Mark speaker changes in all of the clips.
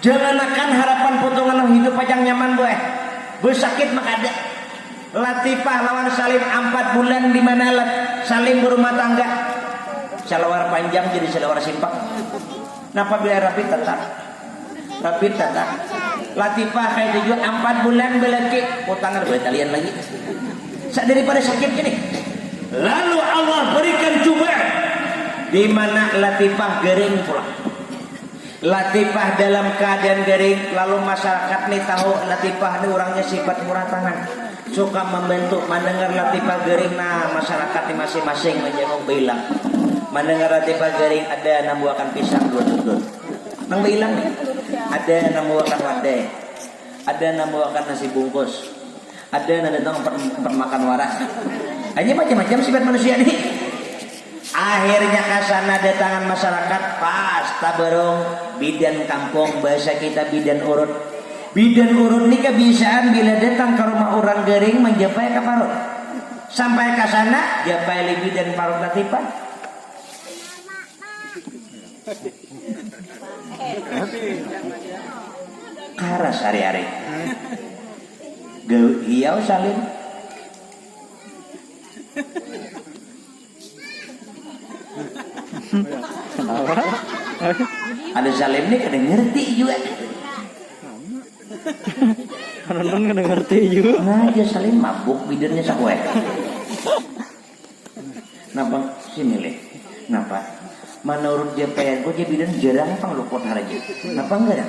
Speaker 1: Janganakan harapan putungan nang hidup pajang nyaman bu eh. Bu sakit mah kada. Latifah lawan Salim ampat bulan di manalat Salim barumah tangga. Salawar panjang jadi salawar simpak. Napa bila rabit tatap? Rabit tatap. Latifah kaitu jua ampat bulan balaki. Kutangar bae talian lagi. Sa daripada sakit ini. Lalu Allah berikan cubaan di mana Latifah garing pulang. Latifah dalam keadaan garing, lalu masyarakat ni tahu Latifah ni urangnya sifat murah tangan, suka membantu, mandangar Latifah garing nah masyarakat ni masing-masing manjanguk bailang, mandangar Latifah garing ada nang buakan pisang dua tutut, nang bailang ni, ada nang buakan wadai, ada nang buakan nasi bungkus. Ada nang datang umpat umpat makan wara. Hanya macam-macam sifat manusia nih. Akhirnya kasana datangan masyarakat pas tabarung bidan kampung bahasa kita bidan urut. Bidan urut ni kabisaan bila datang ka rumah urang garing manjapai ka parut. Sampai kasana japai li bidan parut latipan. Karas hari-hari. Gawi hiau salin. Ada salin ni kada ngerti jua.
Speaker 2: Kada ngerti jua. Nah, dia salin
Speaker 1: mabuk bidurnya sakuai. Napa si milih napa manurut JPN ko je bidan jarang pang luput haraja napa enggara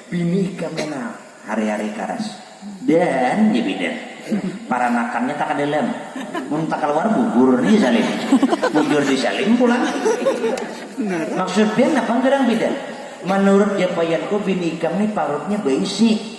Speaker 1: bini ikam ne nah hari-hari karas dan je bidan paranakan nya takada lem mun takaluar gugur ni salim bujur di salim pulang maksud pian napa garang bidan manurut JPN ko bini ikam ni parut nya baisi.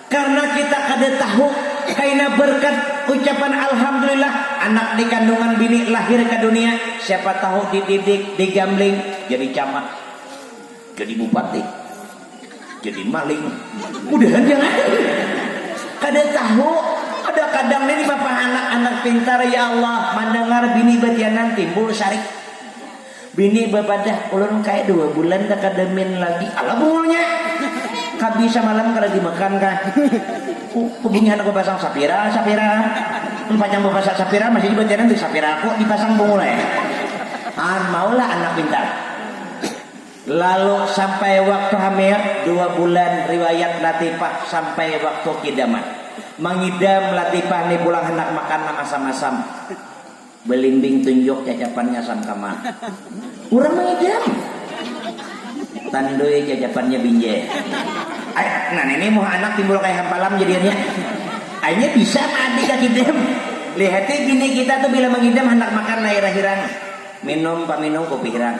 Speaker 1: Karna kita kada tahu kaina berkat ucapan alhamdulillah anak di kandungan bini lahir ka dunia, siapa tahu dididik, digambling jadi camat, jadi bupati, jadi maling, mudahan jangan. Kada tahu, kada kadang ni dipapaha anak-anak pintar, ya Allah, mandangar bini batianan timbul sarik. Bini bapadah, ulun kaya dua bulan dah kada min lagi. Alah bungulnya, kabi samalam kada dimakan kah? Kubunyihan aku pasang sapira, sapira. Mun panyang bapasa sapira masih batianan di sapira aku dipasang bungul ai. Haan maulah anak pintar. Lalu sampai waktu hamil, dua bulan riwayat Latifah sampai waktu kidaman. Mangidam Latifah ni pulang handak makan nang asam-asam. Belimbing tunjuk cacapannya sangkama. Urang mangijam. Tandui cacapannya binjai. Ai, nah nini muha anak timbul kaya hampalam jadiannya. Ai nya bisa maadi kakidam. Lihati bini kita tu bila mangidam handak makan air hirang. Minum paminum kupi hirang.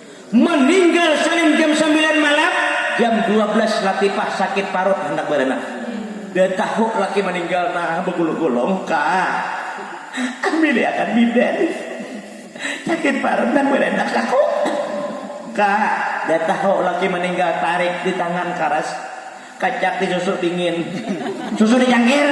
Speaker 1: Meninggal saling jam sambilan malam, jam dua belas Latifah sakit parut handak baranak. Da tahu laki maninggal nah bagulung-gulung ka bilik akan bidan. Sakit parut handak baranak aku. Ka, da tahu laki maninggal tarik di tangan karas, kacak di susu dingin, susu di cangkir.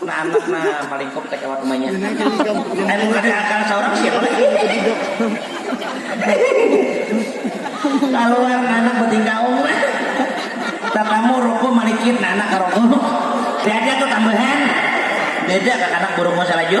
Speaker 1: Anak nang paling komplek lewat rumahnya. Ayo mun kada akan saurang siapa lagi? Kaluar anak betinggaung lah. Tatamu ruku malikit anak ka ruku. Tiada tu tambahan. Beda kakanak burung masa laju.